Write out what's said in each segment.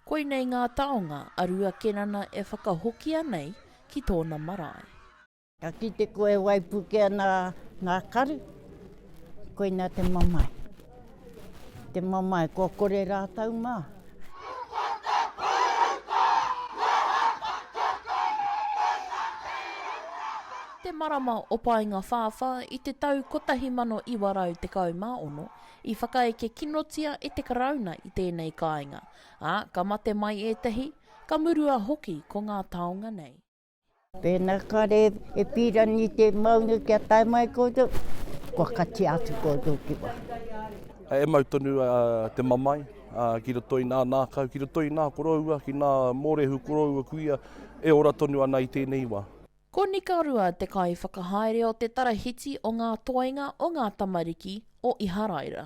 Koinei ngā taonga a Rua Kenana e whakahokia nei ki tōna marae. Ka kite koe e waipuke ana ngā karu, koina te mamae. Te mamae, kua kore rātou mā. Te marama o Paenga-whāwhā i te tau 1916, i whakaeke kinotia e te Karauna i tēnei kāinga, ā, ka mate mai ētahi, ka murua hoki ko ngā taonga nei. Pēnā kare e pīrangi te maunga kia tae mai koutou, kua katia atu koutou ki waho. E mau tonu te mamae ki roto i ngā ngākau, ki roto i ngā koroua, ki ngā mōrehu koroua kuia e ora tonu ana i tēnei wā. Ko Nikarua te kaiwhakahaere o te Tarahiti o ngā Toenga o ngā Tamariki o Iharaira.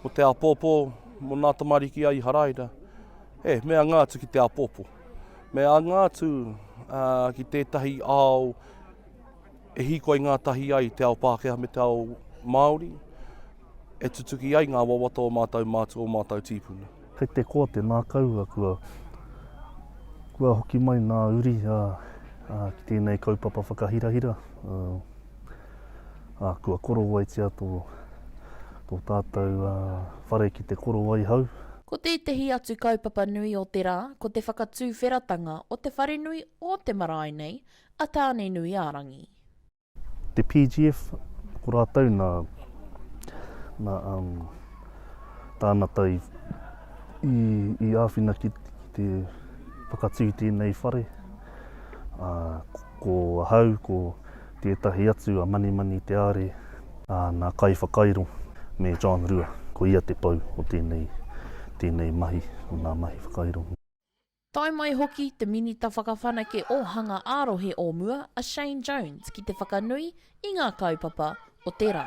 Ko te āpōpō mō nā tamariki a Iharaira, he mea anga atu ki te āpōpō. Me anga atu ki tētahi ao e hīkoi ngātahi ai te ao Pākehā me te ao Māori, e tutuki ai ngā wawata o mātou mātua, o mātou tīpuna. Kei te koa te nākaua kua kua hoki mai nā uri a, a, ki tēnei kaupapa whakahirahira. A, a, kua korowaitia tō, tō tātou a, whare ki te korowaihau. Ko tētehi atu kaupapa nui o te rā ko te whakatuwheratanga o te wharenui o te marae nei, a Tānenuiārangi. Te PGF, ko rātou nā, nā um, tānata i, i, i āwhina ki, ki te whakatū tēnei whare. Ā, ko ahau, ko tētahi atu a Manimani Te Are, ā, nā Kai Whakairo me John Rua, ko ia te pou o tēnei, tēnei mahi, o nā mahi whakairo. Tae mai hoki te Minita Whakawhanake Ōhanga ā-Rohe o mua a Shane Jones ki te whakanui i ngā kaupapa o te rā.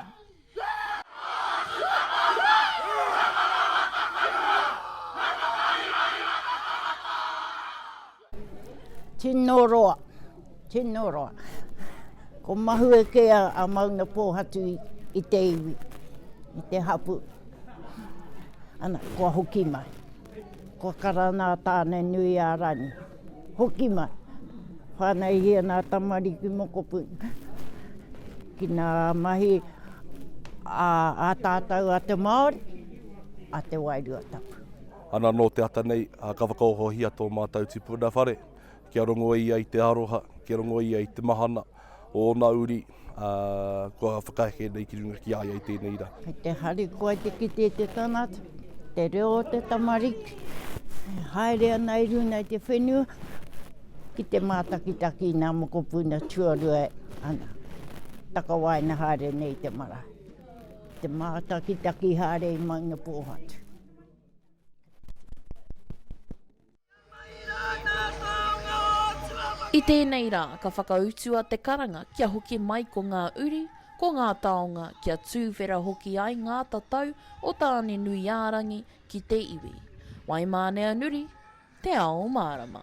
Tino roa, tino roa. Ko mahue kē a Maunga Pōhatu i te iwi, i te hapū. Ana, kua hoki mai. Kua kara nā Tāne nui a Rangi. Hoki mai. Whānaihia nā tamariki mokopuna. Ki nā mahi a, a tātou a te Māori, a te Wairua Tapu. Ana nō te ata nei, ka whakaohohia tō mātou tupuna whare, kia rongo ia i te aroha, kia rongo ia i te mahana, Ōna uri, ā, kua whakaheke nei ki runga ki a ia i tēnei rā. Kei te harikoa te kite i te tangata, te reo o te tamariki e haere ana i runga i te whenua ki te mātakitaki i ngā mokopuna tuarua e takawaenga haere nei i te marae, ki te mātakitaki haere i Maungapōhatu. I tēnei rā, ka whakautua te karanga kia hoki mai ko ngā uri, ko ngā taonga, kia tūwhera hoki ai ngā tatau o Tāne-nui-ā-rangi ki te iwi. Waimāneanuri, Te Ao Mārama.